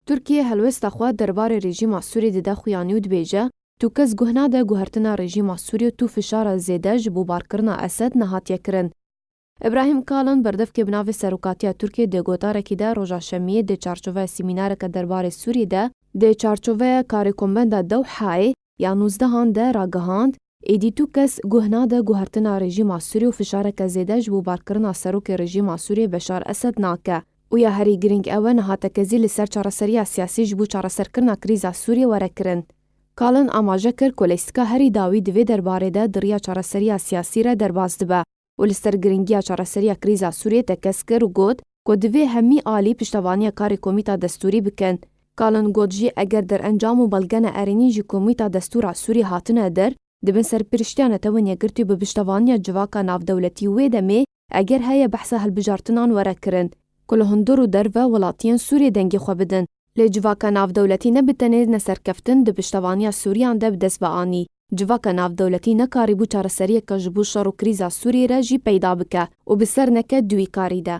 Tirkiye helwesta xwe derbarê rejîma Sûrê dide xuyanî û dibêje, Tu kes guh nade guhertina rejîma Sûrê û tu fişara zêde ji bo barkirina Esed nehatiye kirin. Îbrahîm Kalin berdevkê bi navê Serokatiya Tirkiyê dê gotarekî de roja şemiyê dê çarçoveya sîmînareke derbarê Sûriyê de, dê çarçoveya karê Kombenda Dewhayê, ya nûzdehan de ragihand, Êdî tu kes guh nade guhertina rejîma Sûrê û fişareke zêde ji bo barkirina serokê rejîma Sûrê Beşar Esed nake û ya herî girîng ew e nihatekezî li ser çareseriya siyasî ji bo çareserkirina krîza Sûrê were kirin. Kalin amaje kir ku lîstika herî dawî di vê derbarê de di riya çareseriya siyasî re derbas dibe. û li ser girîngiya çareseriya krîza Sûriyê tekez kir û got ku divê hemî alî piştevaniya karê Komîta Destûrî bikin. Kalin got jî eger derencam û belgene erênî ji Komîta Destûra Sûriyê hatine der, dibin Serpiriştiya Netewên Yekgirtî bi piştevaniya civaka navdewletî wê demê eger heye behsa hilbijartinan were kirin ku li hundir û derve welatiyên Sûriyê dengê xwe bidin. Lê civaka navdewletî ne bi tenê ne serkeftin di piştevaniya Sûriyan de bi dest ve anî. Civaka navdewletî nekarîbû çareseriyeke ji bo şer û krîza Sûriyê re jî peyda bike û bi ser neke duyîkarî de.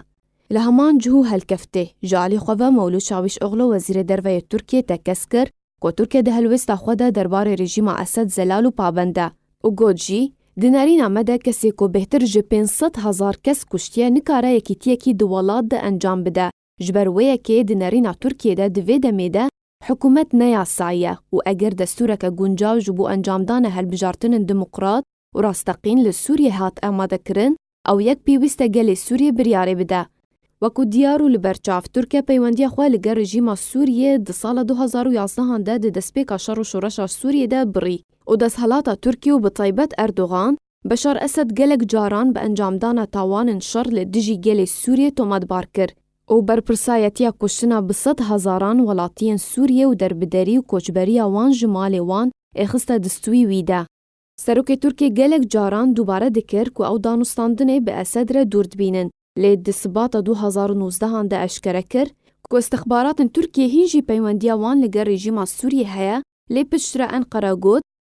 Li heman cihû helkeftê, ji alî xwe ve Mewlûd Çavîşoglu Wezîrê Derve yê Tirkiyê tekez kir ku Tirkiye di helwêsta xwe de derbarê rejîma Esed zelal û pabend e û got jî, Di nerîna me de kesê ku bêhtir ji pênc sed hezar kes kuştiye nikare yekîtiyekî di welat de encam bide. Ji ber wê yekê di nerîna Tirkiyê de di vê demê de hikûmet ne yasayî ye û eger destûreke guncaw ji bo encamdana hilbijartinên demokrat û rasteqîn li Sûriyê hat amadekirin ew yek pêwîst e gelê Sûriyê biryarê bide. Wekû diyar û li ber çav, Tirkiye peywendiya xwe li gel rejîma Sûriyê di sala du hezar û yazdehan de di destpêka şer û şoreşa Sûriyê de birî û desthelata Tirkiye û bi taybet Erdogan, Beşar Esed gelek caran bi encamdana tawanin şer li dijî gelê Sûriyê tomatbar kir û berpirsayetiya kuştina bi sed hezaran welatiyên Sûriyê û derbederî û koçberiya wan ji malê wan ê xiste distwî wî de. Serokê Tirkiyê gelek caran dubare dikir ku ew danûstandinê bi Esed re dûr dibînin, lê di sibata du hezar û nûzdeh an de eşkere kir ku îstixbaratên Tirkiyê hîn jî peywendiya wan li gel rejîma Sûriyê heye, lê piştre Enqere got,